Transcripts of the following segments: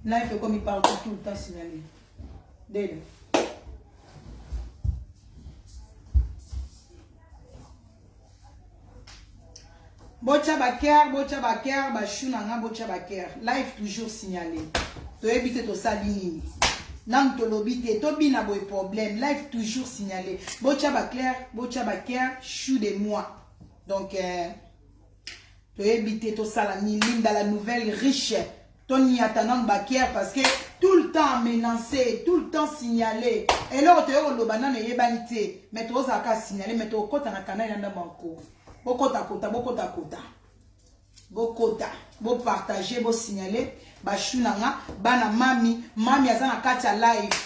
Life ekomi partout tout le temps signalé. Dele. botya baker botya baker bashu na nga botya baker live toujours signale toyebi te tosali nini nanu tolobi te tobina boye problème live toujours signale botya baclaire botya baker chou de moi donc euh, toyebi te tosala nini linda la nouvelle riche toniata nanu bakiere parce que tout le temps menance tout le temps signale eloko toye koloba nano eyebani te mai tozala kaka signale mai tokokota na kanai na ndambo yanko bokotakota bokotakota bokota bopartage bosignale bashu na nga bana mami mami aza na kati ya live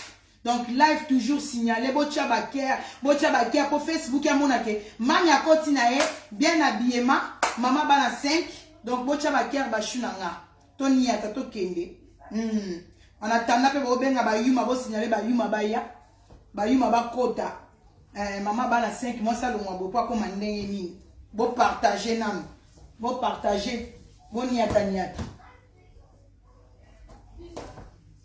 Donc live toujours signalé, botia ba care, botia ba care po Facebook ya mona ke mami akoti na ye bien habillement, mama bana 5. Donc botia ba care ba chou na nga. To niata to kende. Hmm. En attendant pe bo benga ba yuma bo signaler ba yuma ba ya. Ba yuma ba kota. Eh, mama bana 5 mois ça longwa bo pa koma ndenge nini. Bo partager nanu. Bo partager. Bo niata niata.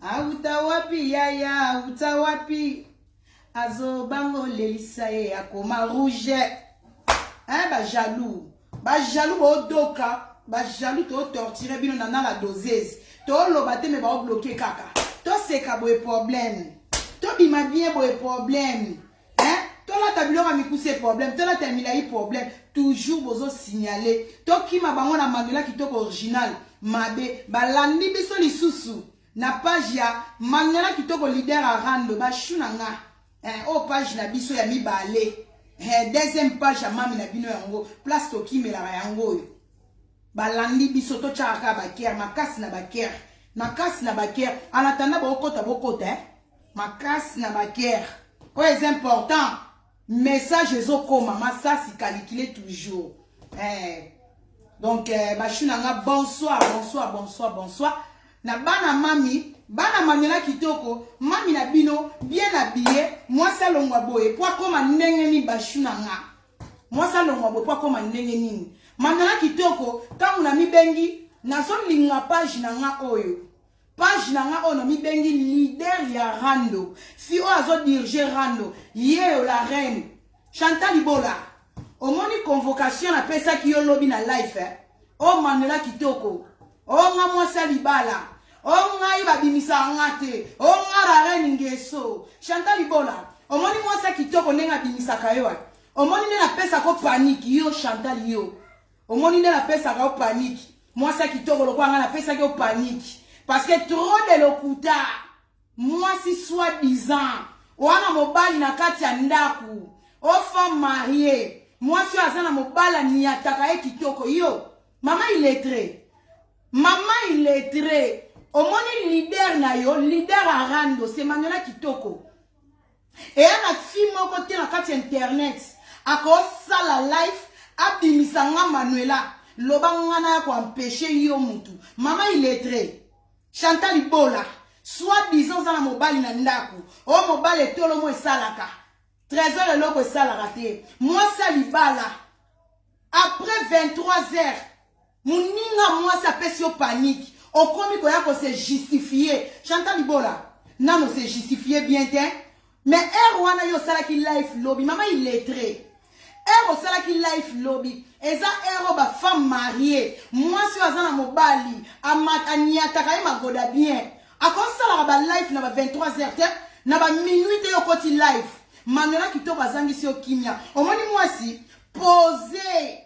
Awuta wapi yaya awuta wapi azo bango lelisa ye akoma rouge hein ba jaloux ba jaloux bo doka ba jaloux to torturer bino na na la doseuse to loba te me ba bloquer kaka to seka boye problème to bima bien boye problème hein tolata biloko ya mikuse problème tolata ya milai problème toujours bozo signale tokima bango na manuela kitoko original mabe balandi biso lisusu na page ya manuela kitoko leader arando bashu na nga eh, oyo page na biso ya mibale eh, deuxième page ya mami na bino yango place tokimelaka yango oyo balandi biso totyaka kaka bakere makasi na bakere makasi na bakere anatanda bokota bokota eh? makasi na ba guerre oyo eza important message ezokoma masasi kalikile toujours eh. donc eh, bashu na nga bonsoir bonsoir bonsoir bonsoir na bana mami bana mamela kitoko mami na bino bien abiye mwasi alongwa boye mpo akoma ndenge nini bashu na nga mwasi alongwa boye mpo akoma ndenge nini mamela kitoko ntango namibengi nazolinga page na nga oyo Page na nga oyo na mi bengi leader ya rando. Fi oyo azo dirige rando. Yeo la reine. Chantal Ibola. Omoni convocation na pesa ki yo lobi na life. Eh? O Manuela Kitoko. O nga mwasa libala. O ngai babimisa nga te. O nga la reine ngeso. Chantal Ibola. Omoni mwasa kitoko ndenge abimisaka yo. Eh? Omoni nde na pesa ko panique yo Chantal yo. omoni nde napesaka yo paniki mwasi ya kitoko lokola ngai napesaki yo paniki parce que trop de lokuta mwasi soit disant wana mobali na kati ya ndako o femme marie mwasi oyo aza na mobali aniataka ye kitoko yo mama iletre mama iletre omoni lider na yo lider arando se manuela kitoko eya na fille moko te na kati ya internet akosala life abimisa nga manuela loba nga naya koampeche yo mutu mama iletre chanta libola soit disant oza na mobali na ndako o mobali etolo mo esalaka trésor eloko esalaka te mwasi ya libala après 23 heures moninga mwasi apesi yo panique okomi koya ko se justifier chanta libola nano se justifier bien te mais heure wana yo osalaki life lobi mama illettré heure osalaki life lobi eza heure oyo bafemme marie mwasi oyo aza na mobali aniataka ye magoda bien akosalaka balife na ba 23 heures te na ba minuit te yo okoti life manuela kitoko azangisi yo kimia omoni mwasi pose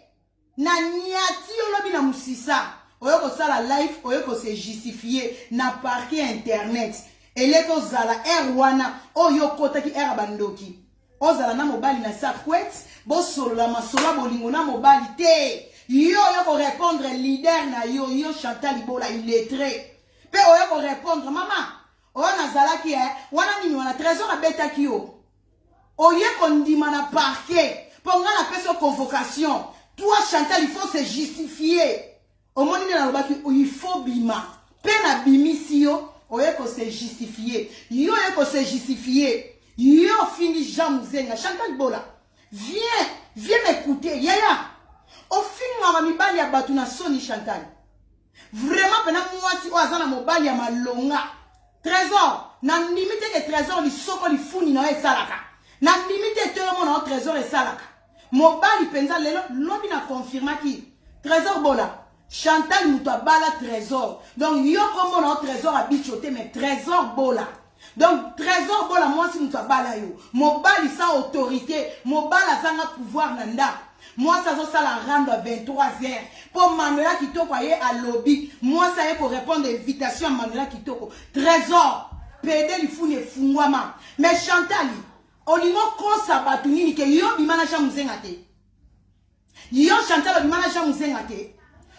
na niati yo lobi na musisa oye kosala life oye kose justifie na parke ya internet eleki ozala ere wana oyo okotaki ere ya bandoki ozala na mobali na sakwete bosolola masolo ya bolingo na mobali te yo oye korepondre lider na yo yo chantal libola iletre mpe oye korepondre mama oyo nazalaki e eh, wana nini wana trésor abetaki yo oye kondima na parquet mpo ngai napesi yo convocation toi chantal il faut se justifier omoni nde nalobaki il faut bima mpe nabimisi yo oye kose justifie yo oye kose justifie yo ofingi jean muzenga chantal bola viens viens mekute yaya ofingaka mibali ya bato na soni chantal vraiment pena mwasi oyo aza na mobali ya malonga trésor nandimi te ke trésor lisoko lifuni na yo esalaka nandimi te to yomona yo trésor esalaka mobali mpenza lelo lobi na confirmaki trésor bola chantal moto abala trésor donc yo komona yo trésor abico te mais trésor bola donc trésor bola mwasi moto abala yo mobali sans autorité mobali azanga pouvoir na ndako mwasi azosala rando ya 23 heures mpo manuela kitoko aye alobi mwasi aye korépondre invitation ya manuela kitoko trésor pede lifuni efungwama mais chantali olingi okosa bato nini ke yo bima na jean mozenga te Yo Chantal obima na Jean Musenga te.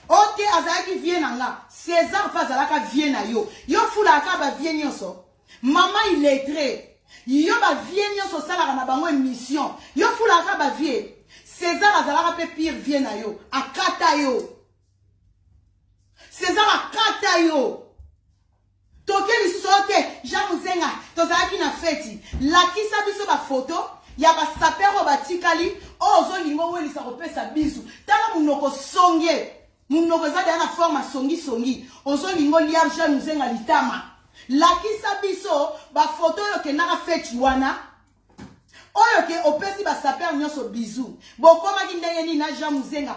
Ok azalaki vie na nga. César pa azalaka vie na yo. Yo fulaka ba vie nyonso. Maman illettré. Yo ba vie nyonso osalaka na bango émission. Yo fulaka ba vie. César azalaka pe pire vie na yo. Akata yo. César akata yo. Toke lisusu oyo te, Jean Muzenga, tozalaki na feti. Lakisa biso ba photo ya ba sapeurs oyo batikali, oyo ozolinga owelisa kopesa bizu. Tala munoko songe, munoko eza deja na forme ya songi songi, ozolinga olia Jean Muzenga litama. Lakisa biso ba photo oyo okendaka feti wana. oyo ke opesi basaper nyonso bizu bokomaki ndenge nini na jean muzenga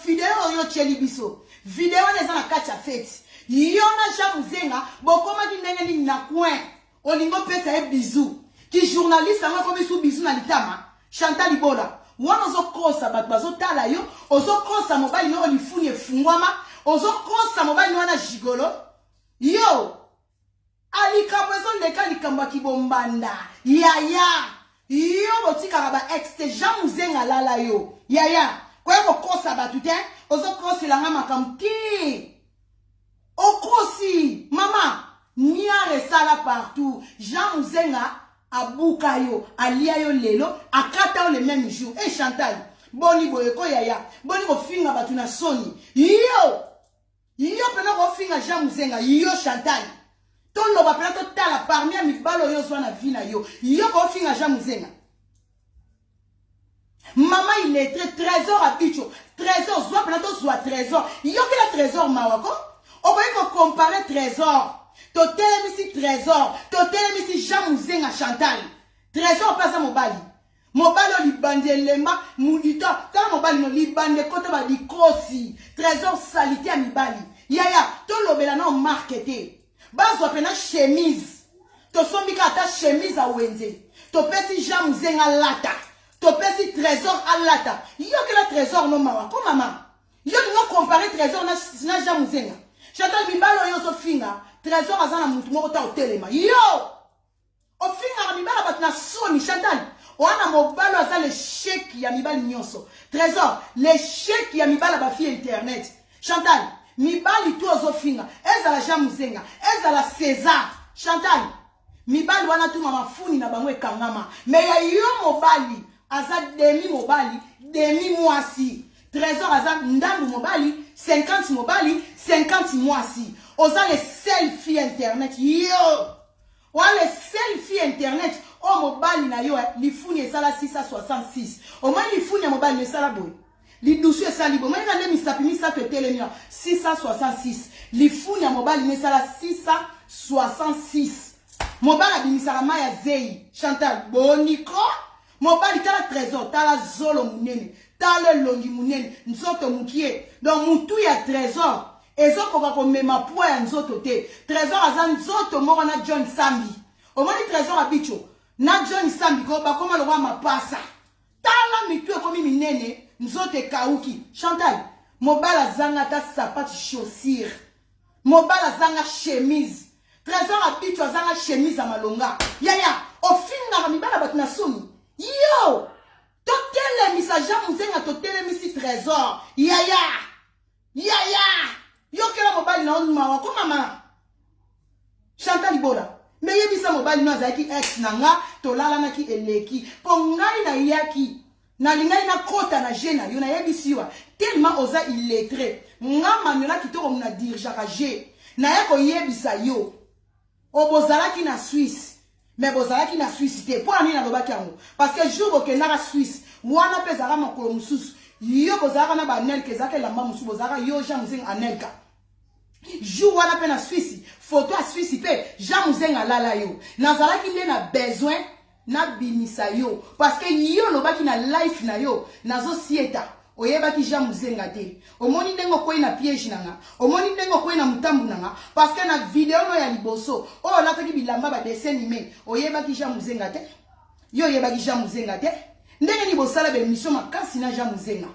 video oyo otyeli biso video wana eza na kati ya feti yo na jean muzenga bokomaki ndenge nini na coin olingi opesa ye bizu kijournaliste yango ekomi su bizu na litama chantal ibola wana ozokosa bato bazotala yo ozokosa mobali yoko lifuni efungwama ozokosa mobali wana gigolo yo Ah likambo ezo leka likambo ya kibombanda yaya yo botikaka ba ex te jean muzenga alala yo yaya koya kokosa bato te ozokosela nga makambo te okosi mama niare esala partout jean muzenga abuka yo alia yo lelo akata yo le même jour e hey, chantal boni boye ko yaya boni kofinga bato na soni yo Yo pena ko finga Jean Muzenga, yo Chantal. To loba pena to tala parmi ya mibalo yo zwa na vie na yo. Yo ko finga Jean Muzenga. Mama il est très trésor à bicho. Trésor zwa pena to zwa trésor. Yo kila trésor mawa ko. Okoki ko comparer trésor. To telemisi trésor. To telemisi Jean Muzenga Chantal. Trésor pasa mobali. Mobali oyo libandi elemba mudito tala mobali no libandi ekota ba dikosi trésor salite ya mibali yaya tolobela nao marke te bazwa pena chemise tosombi ka ata chemise ya wenze topesi jean muzenga alata topesi trésor alata yokela trésor no mawa ko mama yo lingo compare trésor na, na jean muzenga chantal mibali oyo ozofinga trésor aza na mutu moko ta otelema yo ofingaka mibala bato na soni chantal wana mobalo aza lesheki ya mibali nyonso trésor lesheki ya mibala bafille internet chantal mibali tu ozofinga ezala jean muzenga ezala césar chantal mibali wana tu mamafuni na bango ekangama me ya yo mobali aza demi mobali demi mwasi trésor aza ndambu mobali 50 mobali 50 mwasi oza le sel fille internet yo Oa le seul fille internet oyo mobali na yo eh, lifuni esala 666 omoni lifuni ya mobali esala boye lidusu esali boye omonaka nde misapi misato etelemi 666 lifuni ya mobali na esala 666 mobali abimisaka mai ya zei chantal boniko mobali tala trésor tala zolo munene tala elongi munene nzoto mukie donc mutu ya trésor ezokoka komema pwa ya nzoto te trésor aza nzoto moko na john sambi omoni trésor abicho na john sambi ko bakoma lokola mapasa tala mitu ekomi minene nzoto ekauki chantal mobali azanga ata sapati chaussure Mobala azanga chemise. Trésor Abicho azanga chemise ya malonga. Yaya, ofingaka mibala bato na soni. Yo! Totelemisa Jean Muzenga totelemisi Trésor. Yaya! Yaya! Yokela mobali na yo mawa ko mama. Chanta libola. meyebisa mobali no azalaki ex na nga tolalanaki eleki mpo ngai nayaki Nalingaki nakota na jeu na yo nayebisi yo tellement oza illettre nga mamiola kitoko muna dirgeaka jeu naya koyebisa yo obozalaki na suisse mais bozalaki na suisse te mpo na nini nalobaki yango parce que jour bokendaka suisse wana mpe ezalaka makolo mosusu yo bozalaka na banelka ezalaka elamba mosusu bozalaka yo jean musenga anelka jour wana mpe na swisi foto ya swisi mpe jean muzenga alala yo nazalaki nde na besoin nabimisa yo parce que yo olobaki na life na yo nazosieta oyebaki jean muzenga te omoni ndenge okwei na piège na nga omoni ndenge okwei na motambu na nga parce que na video no ya liboso oyo olataki bilamba badessin nime oyebaki jean muzenga te yo oyebaki jean muzenga te ndenge nini bosala bemission makasi na jean muzenga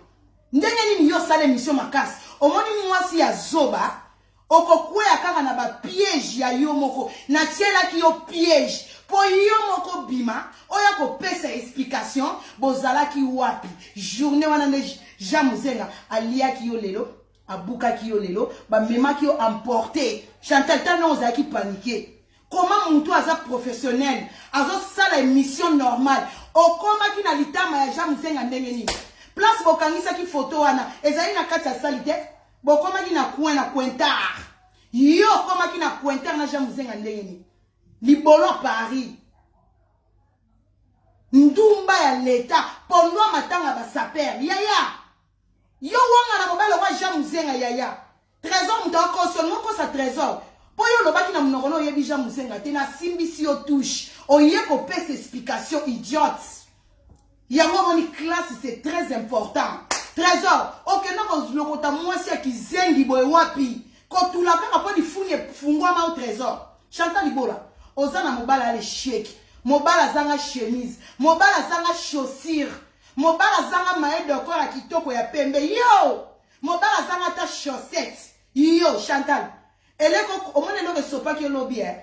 Ndenge nini yo osala emission makasi omoni mwasi ya zoba okokwea kaka na ba piège ya yo moko natielaki yo piège mpo yo moko bima oya kopesa explication bozalaki wapi journée wana nde jean muzenga aliaki yo lelo abukaki yo lelo bamemaki yo emporte chantal tano ozalaki panike Comment mutu aza professionnel azosala emission normale okomaki na litama ya jean musenga ndenge nini place bokangisaki foto wana ezali na kati ya sali te bokomaki na coin na cointar yo okomaki na cointar na jean musenga ndenge nini libolo ya paris ndumba ya leta pondwa matanga basapere yaya Yo wanga na mobali wa Jean Muzenga yaya. Trésor moto akosi olingo kosa Trésor. Po yo olobaki na munoko na oyebi Jean Muzenga te na simbisi yo touche. Oye kopesa explication idiote. Yango moni classe c'est très important. Trésor, okenda kolokota mwasi ya kizengi boye wapi? Kotula kaka po lifuni efungwama o Trésor. Chantal Ibola, oza na mobala ale sheki. Mobala zanga chemise, mobala zanga chaussure. Mobala azanga maye dokora ya kitoko ya pembe yo. Mobala azanga ata chaussette yo Chantal. Eleko omoni eloko esopaki yo lobi eh.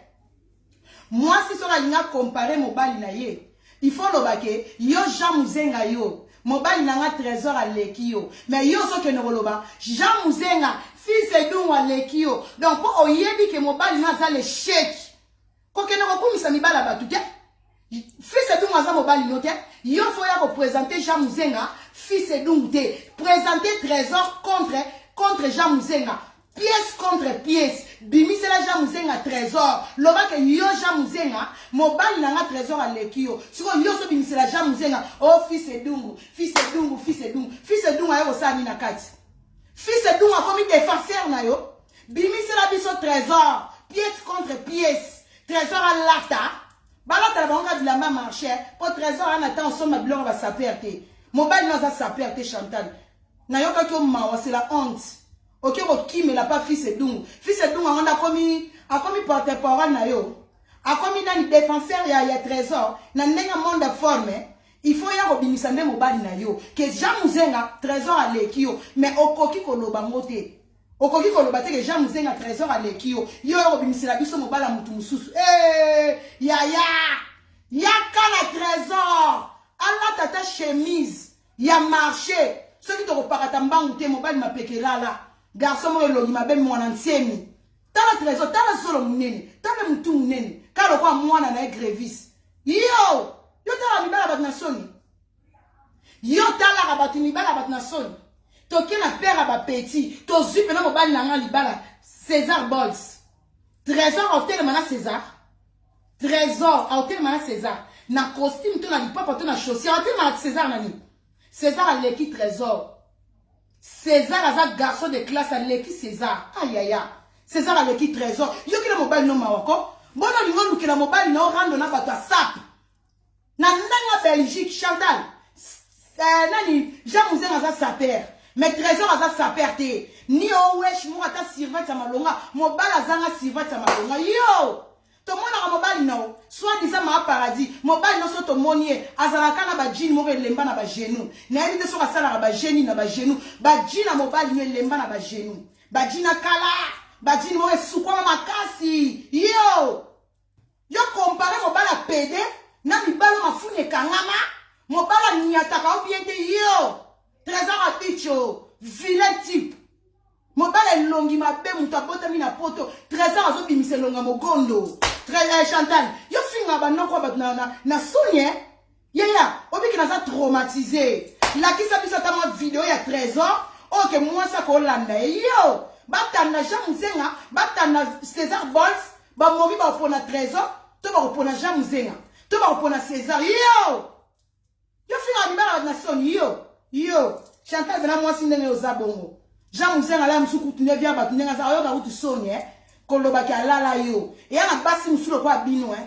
Mwasi soki alinga comparer mobali na ye, il faut loba ke yo Jean Muzenga yo mobali na nga trésor aleki yo mais yo ozokende koloba jean muzenga fils edungu aleki yo donc mpo oyebi ke mobali na aza lecheke kokende kokumisa mibala bato te fils edungu aza mobali no te yo fo ya kopresente jean muzenga fils edungu te presente trésor contre contre jean muzenga pièce contre pièce bimisela jean muzenga trésor loba ke yo jean muzenga mobali na nga trésor aleki yo sikoyo yo ozobimisela jean muzenga o oh, fils edungu fils edungu fils edungu fils edungu aye kosala nini na kati fils edungu akomi defenseur na yo bimisela biso trésor pièce contre pièce trésor alata balata na bango kaka bilamba marché mpo trésor ana ntango osomba biloko basaper te mobali no aza saper te chantal nayokaki yo mawa c'est la honte oke kokimela mpa fils edungu fils edungu yango nde akomi akomi porte parole na yo akomi nani défenseur ya, ya trésor na ndenge monde forme il faut ya kobimisa nde mobali na yo ke jean muzenga trésor aleki yo mais okoki koloba ngo te Okoki koloba te que Jean Muzenga Tresor aleki yo. Yo oyo obimisela biso mobala mutu mususu. Eh! Yaya! Yaka na Tresor! Allah tata chemise ya marché. Soki tokopakata mbangu te mobali mapekelala. Garçon moko elongi mabe mwana nsemi. Tala Tresor, tala solo munene, tala mutu munene. Kalo kwa mwana na ye grevis. Yo! Yo tala mibala batu na soni. yo talaka bato mibala bato na soni toke na père ya bapetit tozwi mpena mobali na ngai libala césar bols trésor aotelema na césar trésor aotelema na césar na costume to na lipapa to na chaussure aotelema na césar na nini césar aleki trésor césar aza garçon de classe aleki césar ayaya ah, césar aleki trésor yokela mobali no mawa ko bona olingi olukela mobali na orando na bato asape na ndanga belgique chantal euh, nani jean muzenga aza saper mais trésor aza saper te ni owesh moko ata sirvate ya malonga mobali azanga sirvate ya malonga yo tomonaka mobali na yo soit disant maa paradis mobali nyonso tomoni ye azalaka na bajini moko elemba na bagenou nayebi te soki asalaka bageni na bagenou baji na mobali yo elemba na bagenou baji na kala bajini moko esukwama makasi yo Yo compare mobala pede na mibalo mafuni ekangama mobala niataka o bien te yo trésor abicho vilain type mobala elongi mabe moto abotami na poto trésor azobimisa elonga mogondo eh, chantal yo finga banoko ya bato na, na, na soni eh? Yaya, obiki naza traumatise. Lakisa biso ata mwa video ya trésor oyo ke mwasi akolanda ye. Yo, batanda Jean Muzenga, batanda César Bols, bamomi bakopona trésor, to bakopona Jean Muzenga, to bakopona César. Yo! Yo finga mibala na soni yo. Yo, Chantal bena mwasi ndenge oza bongo. Jean Muzenga la musuku tunde via batu ndenge aza. Oyoka kutu soni eh. kolobaki alala yo eya na basi mosusu lokola bino eh.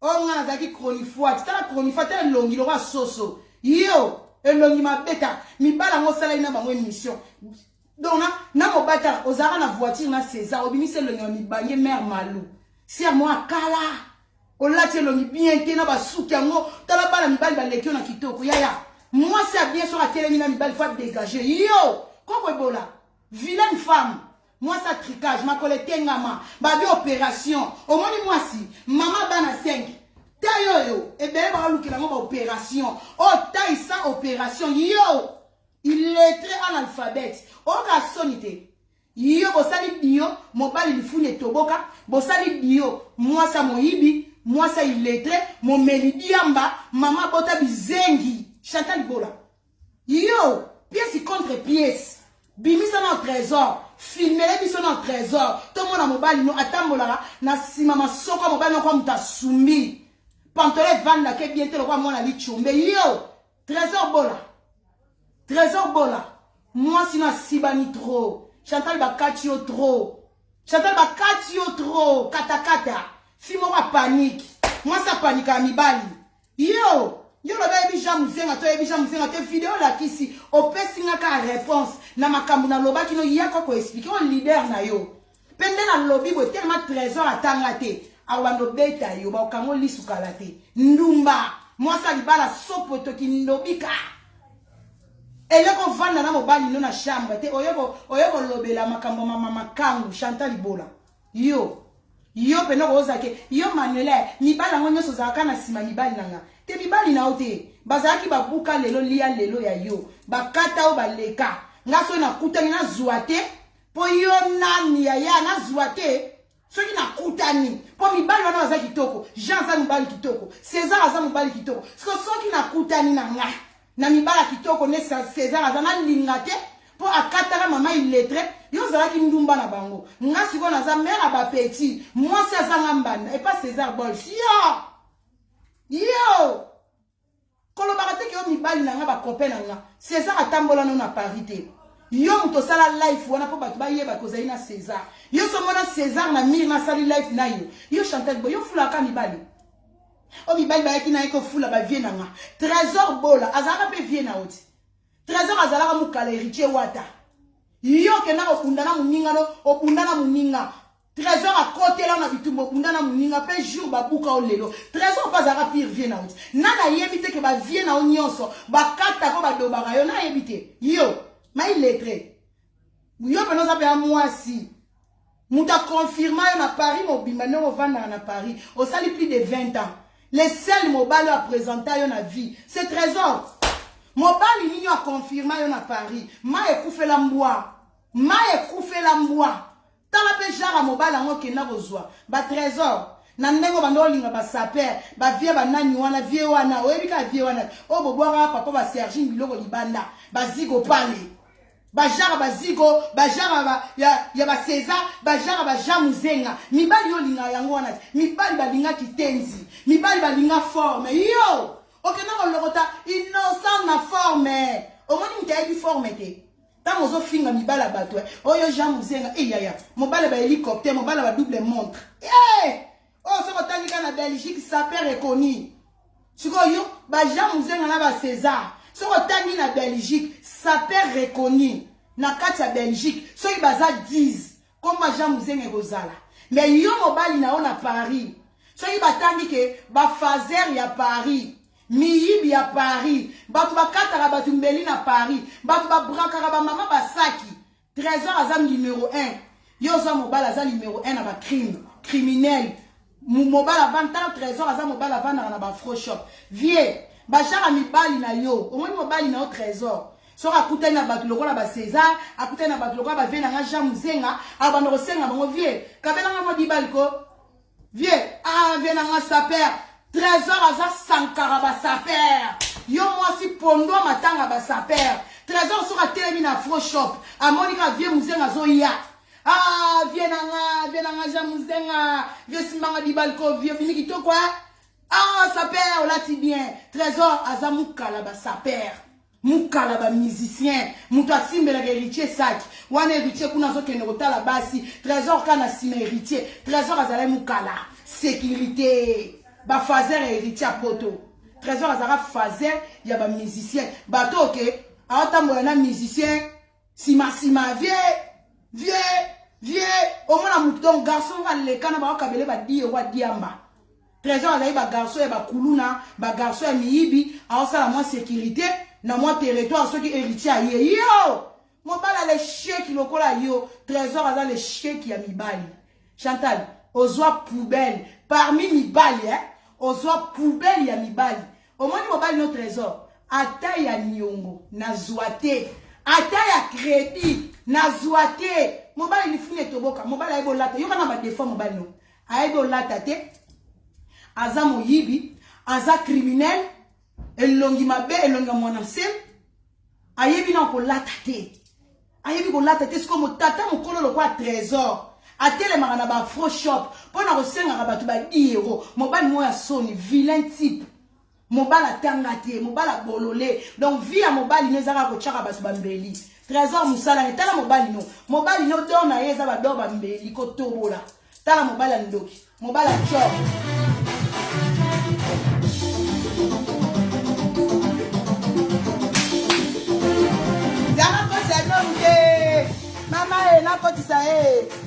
oyo nga nazalaki chronifuati tala chronifuati tala elongi lokola soso yo elongi mabeta mibala yango osalaki na bango émission donc na, na mobata ozalaka na voiture na césar obimisi elongi ya mibange mare malu ser mo akala olati elongi bien te na basuki yango tala bana mibali baleki yo na kitoko yaya mwasi ya bien soki atelemi na mibali fo adégage yo koko ebola vilaine femme Mwasi ya tricage, makolo etengama, babi operation. Omoni mwasi, mama bana 5. Tai oyo, ebele bakalukela yango ba operation. Oyo oh, tai sans operation. Yo, illettré analphabète. Oyoka soni te. Yo, bosali bio, mobali lifuni etoboka. Bosali bio, mwasi ya moyibi, mwasi ya illettré, momeli diamba, mama bota bizengi. Chantal Bola. Yo, pièce contre pièce. Bimisa na trésor. Filmele biso na trésor. Tomona mobali no atambolaka na sima masoko mobali no kwa muta sumbi. Pantole vanda ke bien te lokwa mwana lichombe. Yo, trésor bola. Trésor bola. Moi sino asibani trop. Chantal bakati yo trop. Chantal bakati yo trop. Kata kata. Fille moko a panique. Mwasi apanika ya mibali. Yo, yo lobi oyebi Jean Musenga to oyebi Jean Musenga te video olakisi opesi nga ka réponse na makambo nalobaki no yako ko expliquer o leader na yo mpe nde nalobi boye telema trésor atanga te akobanda obeta yo bakokango lisu kala te ndumba mwasi ya libala sopoto kindobika eleko ovanda na mobali no na chambre te oye kolobela makambo mama makangu chantal libola Yo yo pena okoyoza ke yo manuela mibali yango nyonso ozalaka na nsima mibali na nga te mibali na yo te bazalaki babuka lelo lia lelo ya yo bakata yo baleka nga soki nakutani nazwa te mpo yo nani yaya nazwa te soki nakutani mpo mibali wana baza kitoko jean aza mobali kitoko césar aza mobali kitoko soki nakutani na nga na mibala kitoko ne Cesar aza na linga te mpo akataka mama illettre yo ozalaki ndumba na bango nga sikoyo naza mare ya bapetit mwasi azanga mbanda epa Cesar bols yo yo kolobaka te ke yo mibali na nga bakope na nga Cesar atambola no na Paris te yo moto osala life wana mpo bato bayeba kozali na Cesar yo somona Cesar na mire nasali life na yo yo chantal bo yo fulaka mibali o mibali bayaki na ye kofula bavie na nga trésor bola azalaka mpe vie na yo ti trésor azalaka mokala héritier wata yo okenda kobunda na moninga no obunda na moninga trésor akotela na bitumba obunda na moninga mpe jour babuka o lelo trésor mpe azalaka pire vie na yo ti na nayebi te ke bavie na yo nyonso bakatako badobaka yo nayebi te yo mai lettre yo mpena oza mpe ya mwasi Moto a confirma yo na Paris mobimba ndenge ovandaka na Paris. Osali plus de 20 ans. Le seul mobali a presenta yo na vie, c'est Trésor. Mobali nini a confirma yo na Paris? Ma ekufela mbwa. Ma ekufela mbwa. Tala pe jara mobali yango okenda kozwa. Ba Trésor. na ndenge obanda olinga basaper bavie banani wana vie wana oyebi kaka vie wana oyo bobwakaka papa basergine biloko libanda bazigo pale bajara bazigo bajara ba, ya, ya baseza bajara baja muzenga mibali olinga yango wana te mibali balinga kitenzi mibali balinga forme yo okenda kolokota innocent na forme omoni moto ayebi forme te ntango ozofinga mibali ya bato eh, oyo jean muzenga eyaya eh, mobali ba hélicoptère mobali ba double montre hey! Eh! oyo soki otangi kaka na belgique saper reconnu sikoyo ba jean muzenga na ba césar soki otangi na belgique saper reconnu na kati ya belgique soki baza 10 komba jean muzenga ekozala me yo mobali na yo na paris soki batangi ke bafazer ya paris miyibi ya paris bato bakataka bato mbeli na paris bato babrakaka bamama basaki Trésor aza numero 1. Yo oza mobala aza numero 1 na ba crime, criminel. Mobala van tala Trésor aza mobala van na ba fro shop. Vieux, ba shaka mibali na yo. Omoni mobali na yo Trésor. soki akutani na bato lokola ba césar akutani na bato lokola bavie na nga jean mozenga abanda kosenga bango vie kabelanga mwa bibali ko Vieux, ah vieux na nga saper. Trésor aza sankara ba saper. Yo mwasi pondo matanga ba saper. Trésor soka telemi na fro shop. Amoni ka vieux muzenga zo ya. Ah vieux na nga, vieux na nga ja muzenga. Vieux simbanga dibalko vieux bini kitoko eh. Ah saper olati bien. Trésor aza mukala ba saper. mukala ba musicien moto asimbelaka heritier saki wana heritier kuna azokende kotala basi trésor ka na nsima heritier trésor azalaki mukala sécurité bafazer ya héritier ya poto trésor azalaka fazer ya bamusicien bato oke aotambola na musicien nsima nsima vie vie vie omona moto donc garçon oyo alekana baokabele badiye wa diamba Tresor azali ba garçon ya ba kuluna, ba garçon ya miyibi, aosala mwa securite na mwa territoire soki heritier aye. Yo! Mobali ya lesheki lokola yo, Tresor aza lesheki ya mibali. Chantal, ozwa poubelle parmi mibali eh? Ozwa poubelle ya mibali. Omoni mobali no Tresor, ata ya niongo nazwa te, ata ya credit nazwa te. Mobali lifuni etoboka, mobali ayebi olata, yoka na ba defaut mobali no. ayebi olata te aza moyibi aza criminel elongi mabe elongi ya mwana nsem ayebi na kolata te ayebi kolata te sikoyo motata mokolo lokola trésor atelemaka na baafro shop mpo na kosengaka bato badiero mobali moko ya soni vilain type mobali atanga te mobali abolole donc vie ya mobali no ezaka kotyaka bato bambeli trésor mosala ye tala mobali no mobali no dor na ye eza bador bambeli kotobola tala mobali ya ndoki mobali atyok mama e eh, nakotisa ye eh.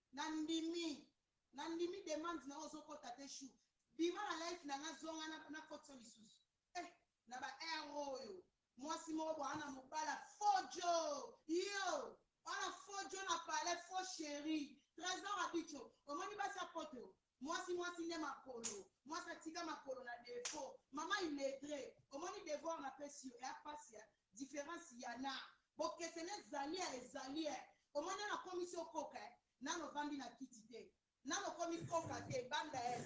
Na ndimi. Na ndimi demande na yo ozo kota te chou bima na life na nga zonga na na koti yo lisusu eh na ba heure oyo mwasi moko boa na mobala faux djo yo oa na faux djo na palais faux cherie tresor abicho omoni basi ya poto Mwasi mwasi nde makolo. Mwasi atika makolo na defaut. Maman illettre, omoni devoir na pesi yo? Ea pasi hein. Difference ya na. Bokeseni ezali eh, ezali eh. Omoni nanu akomisi yo koka eh. Nanu ovandi na kiti te. Nanu okomi koka te, banda eh.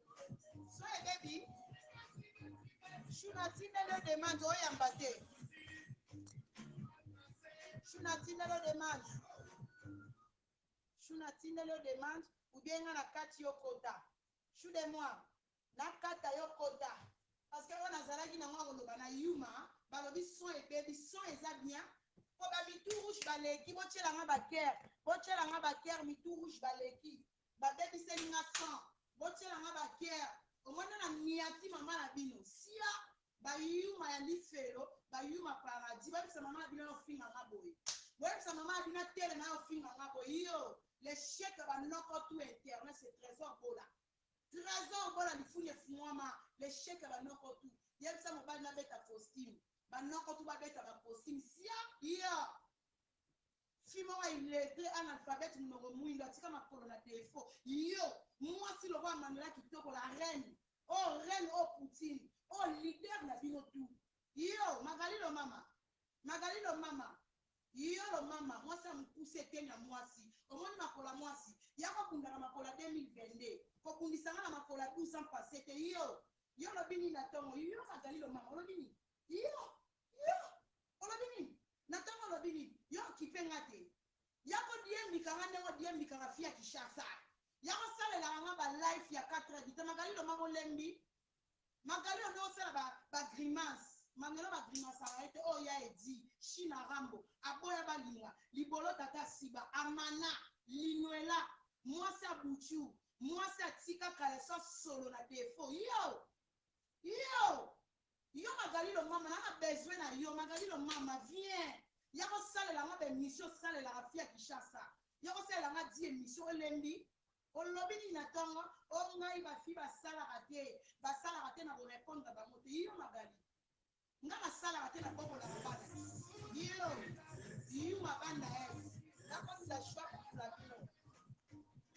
so ebebi shuna tindelo demande oyamba te shuna tindelo demande shuna tindelo demande ubienga na kati yo kota shu de moi nakata yo kota parce que oyo nazalaki nango akoloba na yuma balobi son ebebi son eza bien mpo bamitu rouge baleki botyelanga bakere botyelanga bakere mitu rouge baleki ba bebiseli nga sang botiela nga ba guerre omoni nde na niati maman na bino sia ba yuma ya lifelo ba yuma paradis boyebisa maman na bino aye ofinga nga boye boyebisa maman na bino atelema aye ofinga nga boye iyo le chef ya ba noko tout internet c'est trésor bola trésor bola lifuni efungwama le chef ya ba noko tout yebisa mobali na beta costume ba noko tout babeta ba costume sia iyo Fille moko ya illettre analphabete munoko muindu atika makolo na defaut yo muasi lokola manuela kitoko la reine oh reine oh poutine oh leader na bino tout yo magali lomama magali lomama yo lomama muasi ya mukuse eteni ya muasi omoni makolo ya muasi yako bunda na makolo ya 2022 kobundisa nga na makolo ya 12 ans passe te yo yo olobi nini na tongo yo magali lomama olobi nini yo yo Olobi nini? Na tongo olobi nini? Yo okipe nga te. Ya ko diembika nga ndenge odiembika nga fille ya Kinshasa. Ya ko salelaka nga ba live ya quatre heures du temps. Magali lomama olembi? Magali olingi osala ba, ba grimaces. Manelo ba grimasaka ye te. Oyo ya Eddy, Shina Rambo. Aboya balinga. Libolo tata asiba. Amana. Linuela. Mwasi ya Butshu. Mwasi atika caleçon solo na defaut. Yo! Yo! Yo magalilo mama na nga besoin na yo magalilo mama vient yako salela nga ba emission osalelaka fille ya kishasa yoko salela nga di emission olembi olobi nini na tongo o ngai ba fille ba salaka te ba salaka te na ko repondre bango te yo magali nga na salaka te na bokolaka bana yo yuma banda es na kosila choix pour la bino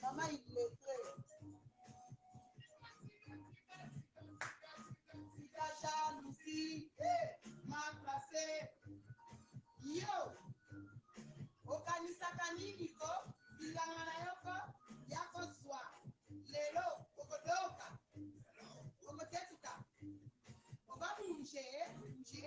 Maman illettré. Sika jalousie, mal placé. Yo, okanisaka nini ko bilanga na yo ko ya kozwa lelo okodoka okotetuka oba nje nje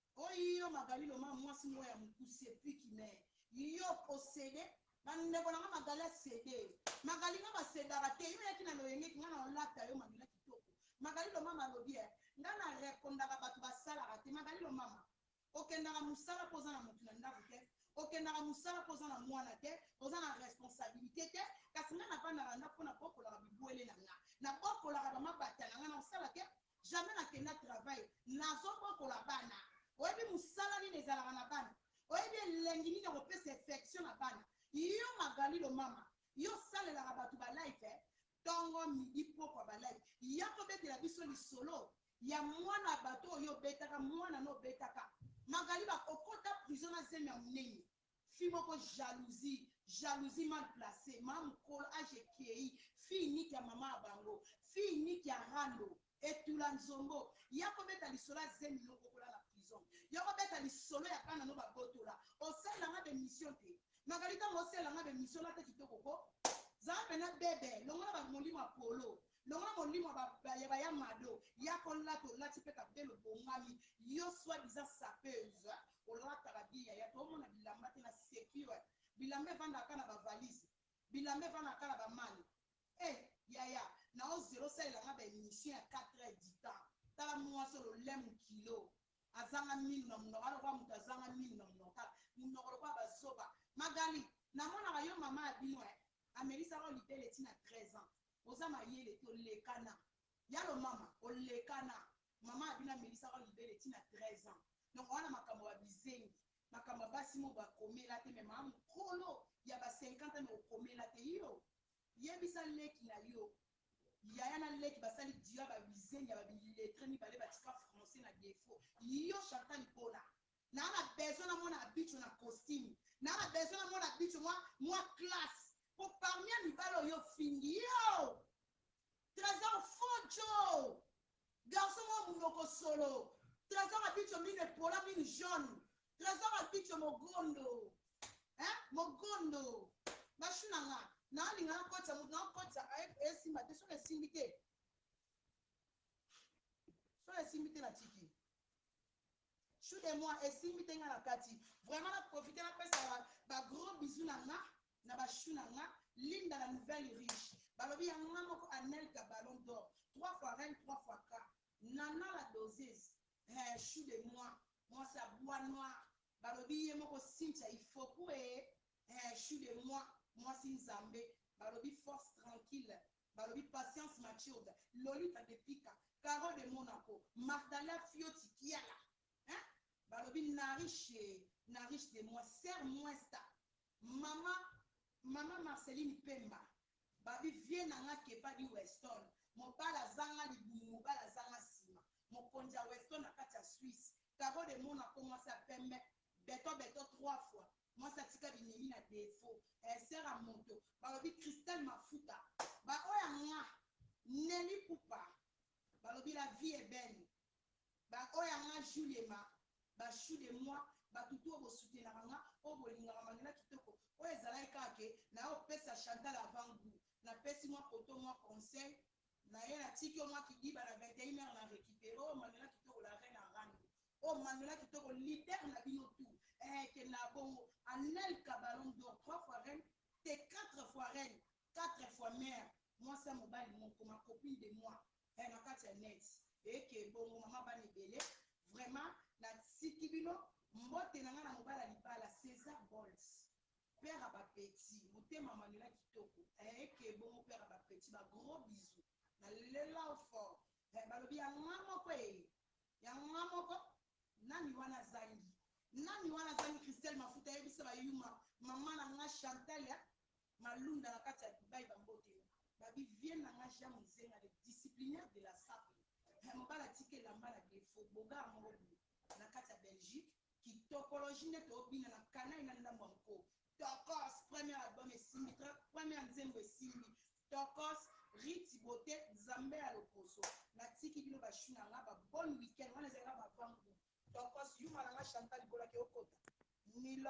Oh iyo magalilo ma mwasi moko ya mokuse epuis ki me yo o cede ba ndeko na nga magali a cede magali nga ba cedaka te yo yaki na loyenge ki nga na olata yo mabila kitoko magalilo mama alobi eh nga na repondaka batu ba salaka te magalilo mama okendaka musala po oza na mutu na ndaku te okendaka musala po oza na mwana te oza na responsabilite te kasi nga na vandaka ndaku po na bokolaka bibuele na nga na bokolaka ba mabata na nga na osala te jamais na kenda travail nazo bokola bana oyebi musala nini ezalaka na bana oyebi elengi nini ya ko pesa effection na bana yo magali lomama yo salelaka batu ba live tongo midi pokwa ba live ya ko betela biso lisolo ya mwana bato oyo obetaka mwana no obetaka magali ba okota prison na zemi ya munene Fille moko jalousie jalousie mal place ma mukolo age ekeyi fille unique ya maman ya bango fille unique ya rando etula nzombo yako beta lisolo ya zemi no oko lala prison yoko beta lisolo ya bana no ba botola osalela nga be mission te Magali tangu osalela nga be mission olata kitoko ko zala pena bebe longola ba molimo ya polo longola molimo ya ba ya mado yako lata olati pe capitel obongami yo soit disant sapeuse olata ba bien yaya to mona bilamba te na secure bilamba evandaka kaka na ba valise bilamba evandaka kaka na ba malle eh yaya na oze osalela nga ba emission ya 4 heures du temps tala muasi ololemu kilo azanga minu na munoko alokola mutu azanga minu na munoko tala munoko lokola ba zoba magali namonaka yo mama ya bino eh amelisaka yo libele ti na 13 ans oza mayele te olekana yalo mama olekana mama abino amelisaka yo libele ti na 13 ans donc oza na makambo ya bizengi makambo ya basi mo bakomela te mais mama mukolo ya ba 50 ans mais okomela te yo yebisa leki na yo yaya na leki basali duo ya ba bizengi ya ba biletre mibale batika français na defaut yo chantal bola Naza na besoin na mona Abitsho na costume. Naza na besoin na mona Abitsho mwa, mwa classe. Po parmi ya mibali oyo ofingi, yoo! Tresor faux djo! Garçon moko munoko solo. Tresor Abitsho minu epola, minu jaune. Tresor Abitsho mogondo. Hein? Mogondo. Ba chou na nga. Naza linga na kotisa mutu, nao kotisa, esimba te. Soki esimbi te, soki esimbi te na tiki. Chou de moi esimbi te nga na kati vraiment na profiter na pesa ba ba gros bisous na nga na ba chou na nga Linda la nouvelle riche balobi ya nga moko Anelka ballon d'or trois fois reine trois fois ka Nana la doseuse eh chou de moi mwasi ya bois noir balobi ye moko Cynthia Ifoku eh eh chou de moi mwasi nzambe balobi force tranquille balobi patience matured lolita de pika caro de monaco martha la fioti kiala hein balobi nariche nariche de moi sœur muesta mama mama marceline pemba babi vieux na nga kepa di weston mobali azanga libumu mobali azanga sima mokonzi ya weston na kati ya suisse caro de monaco mwasi ya pembe beton beton trois fois mwasi atika binemi na defaut eh sœur ya moto balobi Christelle mafuta ba oyo ya nga Nelly Ipupa balobi la vie est belle ba oyo ya nga Juliema ba chou de moi batu tout oyo bo soutenaka nga oyo bolingaka Manuela kitoko oyo ezalaki kaka ke naye opesa Chantal avant gout na pesi mwa koto mwa conseil naye natiki yo mwa kidiba na 21 heures na recuperer oyo Manuela kitoko la reine ya rando oh Manuela kitoko leader na bino tout eh kenda bongo Anelka ballon d'or 3 fois reine te 4 fois reine 4 fois mère mwasi ya mobali moko ma copine de moi eh na kati ya net eh ke bongo mama bana ebele vraiment na tiki bino mbote na nga na mobala libala Cesar Bols père à ba petit motema Manuela kitoko eh ke bongo père à ba petit ba gros bisous na lela fort eh balobi ya nga moko eh Yango nga moko nani wana azangi nani wana azangi Christelle mafuta yebisa ba yuma maman na nga Chantal ya malunda na kati ya Dubai ba mbote ba bi vieux na nga Jean Muzenga le disciplinaire de la sape eh, mobala atika elamba na defaut bogara moko boye na kati ya Belgique kitokologie nde tobina na kanai na ndambo ya nko tokos premier album esimbi très première nzembo esimbi tokos Rithy beaute nzambe ya loposo na tiki bino ba choux na nga ba bonne week-end wana ezalaka ba avant gout tokos yuma na nga Chantal libola ke okota Milord.